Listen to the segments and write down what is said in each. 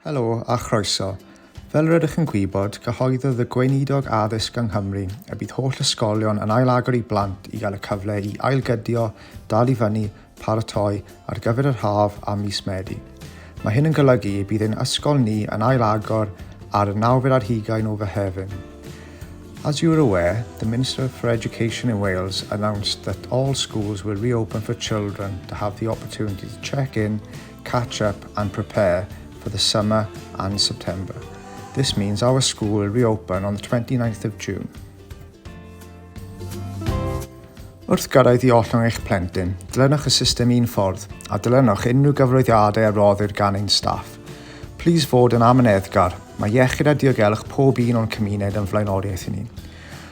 Helo a chroeso. Fel rydych yn gwybod, cyhoeddodd y Gweinidog Addysg yng Nghymru y bydd holl ysgolion yn ail-agor i blant i gael y cyfle i ailgydio, dal i fyny, paratoi ar gyfer yr haf a mis Medi. Mae hyn yn golygu y bydd ein ysgol ni yn ail-agor ar y nawfed ar hugain o Fehefin. As you are aware, the Minister for Education in Wales announced that all schools will reopen for children to have the opportunity to check in catch up and prepare for the summer and September. This means our school will reopen on the 29th of June. Wrth gyrraedd i ollwng eich plentyn, dilynwch y system un ffordd a dilynwch unrhyw gyfroeddiadau a roddir gan ein staff. Plis fod yn amyneddgar, mae iechyd a diogelwch pob un o'n cymuned yn flaenoriaeth i ni.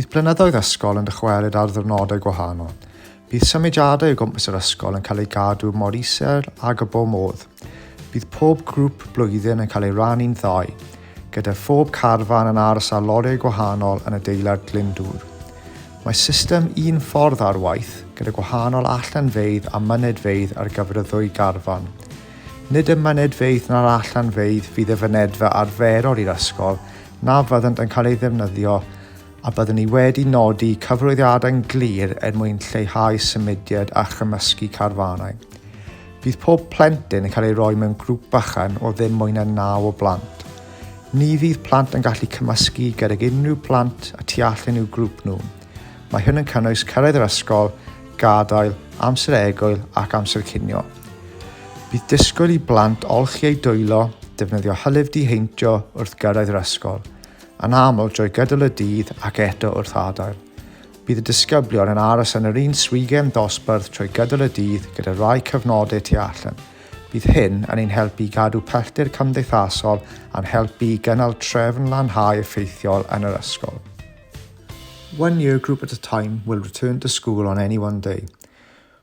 Bydd blynyddoedd ysgol yn dychwelyd ar ddwrnodau gwahanol. Bydd symudiadau o gwmpas yr ysgol yn cael eu gadw mor isel ag y bo modd. Bydd pob grŵp blwyddyn yn cael ei rannu'n ddau, gyda phob carfan yn aros ar lorïau gwahanol yn adeilad Glyndŵr. Mae system un ffordd ar waith, gyda gwahanol allanfeydd a mynedfeydd ar gyfer y ddwy garfan. Nid y mynedfeydd na'r allanfeydd fydd y fynedfa arferol i'r ysgol na fyddant yn cael ei ddefnyddio a byddwn ni wedi nodi cyfarwyddiadau'n glir er mwyn lleihau symudiad a chymysgu carfanau. Bydd pob plentyn yn cael ei roi mewn grŵp bychan o ddim mwy na naw o blant. Ni fydd plant yn gallu cymysgu gydag unrhyw blant y tu allan i'w grŵp nhw. Mae hyn yn cynnwys cyrraedd yr ysgol, gadael, amser egwyl ac amser cinio. Bydd disgwyl i blant olchi eu dwylo, defnyddio hylif diheintio wrth gyrraedd yr ysgol, yn aml drwy gydol y dydd ac eto wrth adael. Bydd y disgyblion yn aros yn yr un swigen dosbarth trwy gydol y dydd gyda rhai cyfnodau tu allan. Bydd hyn yn ein helpu i gadw pellter cymdeithasol a'n helpu i gynnal trefn lanhau effeithiol yn yr ysgol. One year group at a time will return to school on any one day.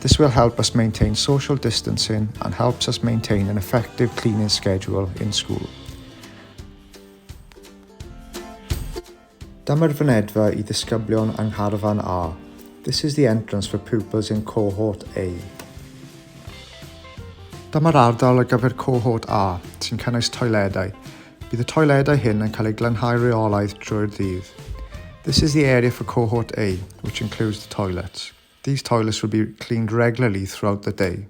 This will help us maintain social distancing and helps us maintain an effective cleaning schedule in school. Dyma'r fynedfa i ddisgyblion yng Ngharfan A. This is the entrance for pupils in cohort A. Dyma'r ardal ar gyfer cohort A, sy'n cynnwys toiledau. Bydd y toiledau hyn yn cael eu glanhau reolaidd trwy'r ddydd. This is the area for cohort A, which includes the toilets. These toilets should be cleaned regularly throughout the day.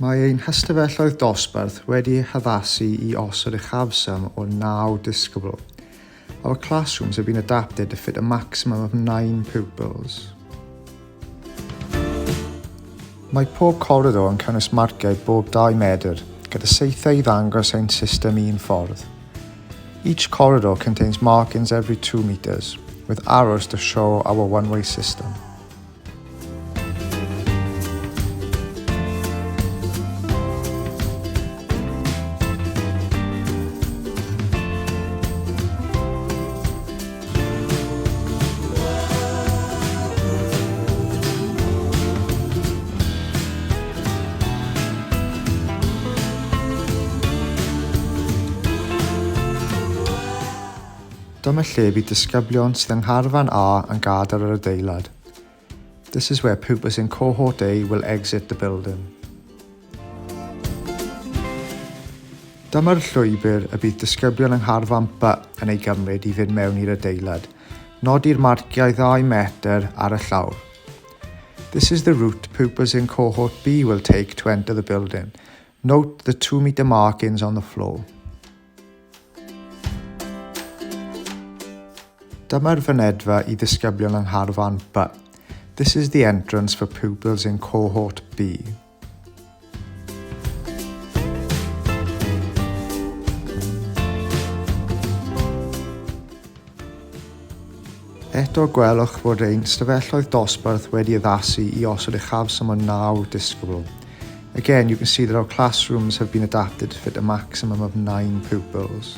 Mae ein hystafelloedd dosbarth wedi eu haddasu i osod uchafswm o 9 disgybl. Our classrooms have been adapted to fit a maximum of 9 pupils. Mae pob coridor yn cynnwys marciau bob 2 medr, gyda saethau i ddangos ein system un ffordd. Each corridor contains markings every 2 meters, with arrows to show our one-way system. Dyma lle bydd disgyblion sydd yng Ngharfan A yn gadael yr adeilad. This is where pupils in cohort A will exit the building. Dyma'r llwybr y bydd disgyblion yng Ngharfan B yn ei gymryd i fynd mewn i'r adeilad. Nodi'r marciau 2 metr ar y llawr. This is the route pupils in cohort B will take to enter the building. Note the 2 metre markings on the floor. Dyma'r fynedfa i ddisgyblion yng Ngharfan B. This is the entrance for pupils in cohort B. Eto gwelwch fod ein stafelloedd dosbarth wedi addasu i osod uchafswm o 9 disgybl. Again, you can see that our classrooms have been adapted to fit a maximum of 9 pupils.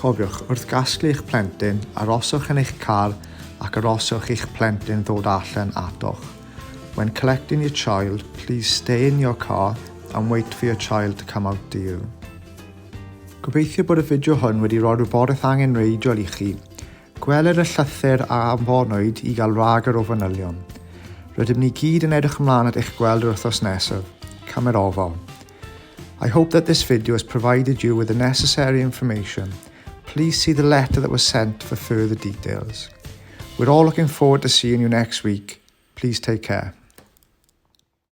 Cofiwch, wrth gasglu eich plentyn, aroswch yn eich car ac aroswch i'ch plentyn ddod allan atoch. When collecting your child, please stay in your car and wait for your child to come out to you. Gobeithio bod y fideo hwn wedi rhoi rhywbeth angenreidiol i chi. Gweler y llythyr a anfonwyd i gael rhagor o fanylion. Rydym ni gyd yn edrych ymlaen at eich gweld yr wythnos nesaf. Cymer ofal. I hope that this video has provided you with the necessary information. Please see the letter that was sent for further details. We're all looking forward to seeing you next week. Please take care.